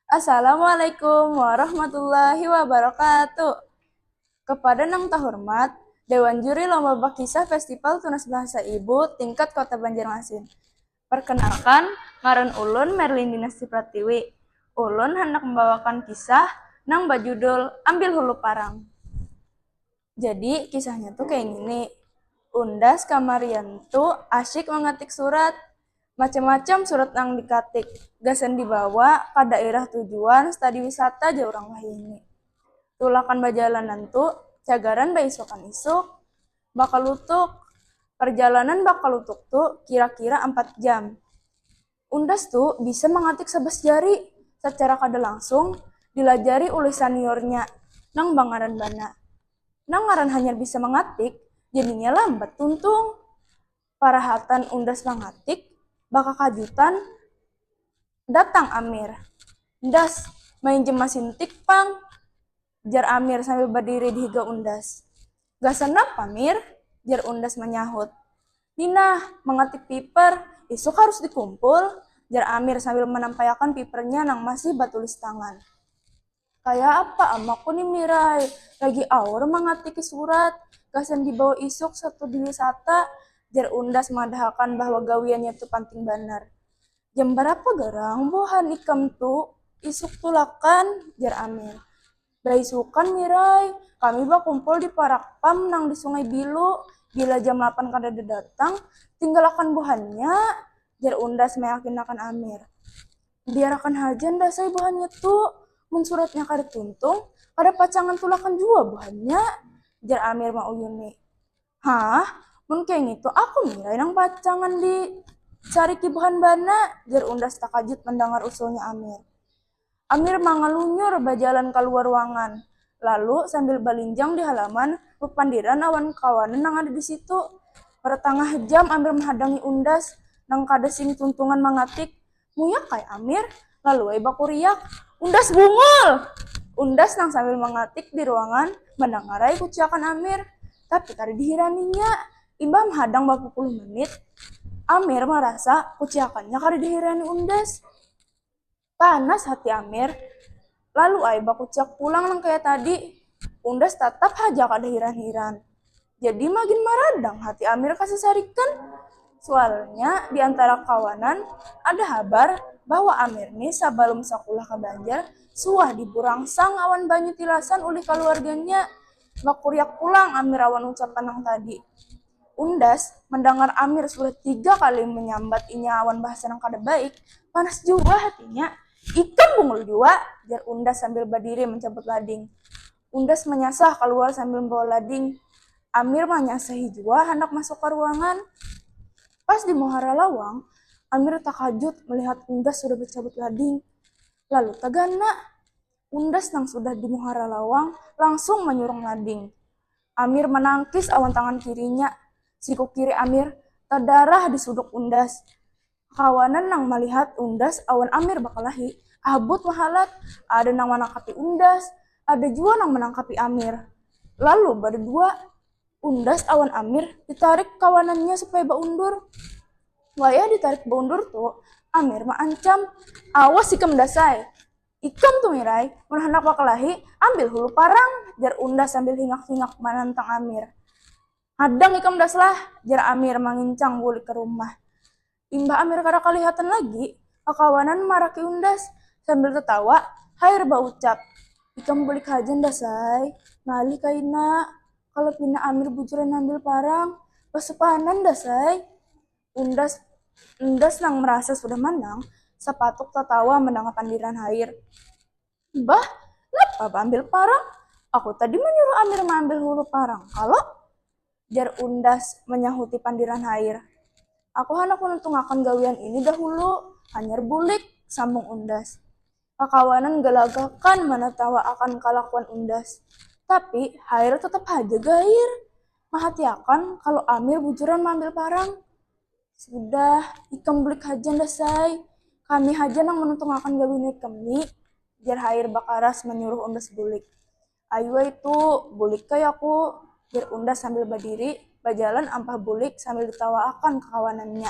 Assalamualaikum warahmatullahi wabarakatuh. Kepada nang tahormat, Dewan Juri Lomba Bakisah Festival Tunas Bahasa Ibu tingkat Kota Banjarmasin. Perkenalkan, ngaran ulun Merlindina Sri Pratiwi. Ulun handak mambawakan kisah nang bajudul Ambil Hulu Parang. Jadi, kisahnya tu kaya ngini, Undas kamarian tu asyik mangatik surat. Macam-macam surat nang dikatik, gasan dibawa ka dairah tujuan stadi wisata jar urang wahini. Tulakan bajalanan tu, cagaran baisukan-isuk. Bakalutuk, Parjalanan bakalutuk tu kira-kira ampat jam. Undas tu bisa mangatik sabas jari sacara kada langsung dilajari ulih saniornya nang bangaran Bana. Nang ngaran hanyar bisa mangatik jadinya lambat tuntung. Parahatan Undas mangatik, bakakajutan datang Amir. Ndas, mainjam masin tik pang. Jar Amir sambil berdiri di higa Undas. Gasan napa, Mir? Jar Undas menyahut. Ninah, mengetik paper, isuk harus dikumpul, jar Amir sambil menampaiakan papernya nang masih batulis tangan. Kaya apa amaku ni Mirai, lagi aur mengatiki surat, gasan dibawa isuk satu diwisata, jar Undas madahakan bahwa gawiannya tu panting banar. Jam barapa garang buhan ikam tu? Isuk tulakan, jar Amir. Baisukan Mirai, kami bakumpul di parak pam nang di Sungai Bilu. Bila jam lapan kadada datang, tinggalakan buhannya, jar Undas mayakinakan Amir. Biarakan haja Ndasai buhannya tu, mun suratnya kada tuntung, kada pacangan tulakan jua buhannya, jar Amir mauyuni. Hah? Mun kaya ngitu aku ngira inang pacangan di cari kibuhan bana, jar Undas takajut mandangar usulnya Amir. Amir mangalunyur bajalan kaluar ruangan, lalu sambil balinjang di halaman bapandiran awan kawanan nang ada di situ. Ratangah jam Amir mahadangi Undas nang kada sing tuntungan mangatik, Muyak kai Amir, lalu ai bakuriak, Undas bungul! Undas nang sambil mangatik di ruangan mandangarai kuciakan Amir, tapi kada dihiraninya. Imbah mahadang bapupuluh menit, Amir marasa kuciakannya kada dihirani Undas. Panas hati Amir. Lalu ai bakuciak pulang nang kaya tadi. Undas tatap haja kada hiran-hiran. Jadi magin maradang hati Amir kasasarikan. Sualnya di antara kawanan ada habar bahwa Amir ni sabalum sakulah ka Banjar suah diburangsang awan banyu tilasan ulih kaluarganya. Bakuriak pulang Amir awan ucapan nang tadi. Undas, mandangar Amir sudah tiga kali manyambat inya awan bahasa nang kada baik, panas jua hatinya. Ikam bungul jua! jar Undas sambil badiri mancabut lading. Undas manyasah kaluar sambil mambawa lading. Amir manyasahi jua handak masuk ka ruangan. Pas di muhara lawang, Amir takajut malihat Undas sudah bacabut lading. Lalu tagana, Undas nang sudah di muhara lawang langsung manyurung lading. Amir manangkis awan tangan kirinya. Siku kiri Amir tadarah di suduk Undas. Kakawanan nang malihat Undas awan Amir bakalahi, habut mahalat. Ada nang manangkapi Undas, ada jua nang manangkapi Amir. Lalu badadua Undas awan Amir ditarik kawanannya supaya baundur. Wayah ditarik baundur tu, Amir maancam, Awas ikam Dasai! Ikam tu Mirai, mun handak bakalahi, ambil hulu parang, jar Unda sambil hingak-hingak manantang Amir. Hadang ikam Das lah, jar Amir mangincang bulik ka rumah. Imbah Amir kada kalihatan lagi, kakawanan maraki Undas sambil tatawa hair baucap, Ikam bulik haja Ndas ai, ngalih kaina, kalo pina Amir bujuran mambil parang, basupanan Das ai. Undas Undas nang merasa sudah manang, sapatuk tatawa menangah pandiran hair. Bah, napa baambil parang? Aku tadi manyuruh Amir maambil hulu parang kalo? jar Undas manyahuti pandiran hair. Aku handak manuntungakan gawian ini dahulu, hanyar bulik, sambung Undas. Kakawanan galagakan manatawaakan kalakuan Undas. Tapi, Hairul tatap haja gair. Mahatiakan kalu Amir bujuran maambil parang. Sudah, ikam bulik haja Ndas ai. Kami haja nang manuntungakan gawian ikam ni, jar Hair bakaras manyuruh Undas bulik. Ayu ai tu, bulik ai aku, jar Undas sambil badiri bajalan ampah bulik sambil ditawaakan kakawanannya.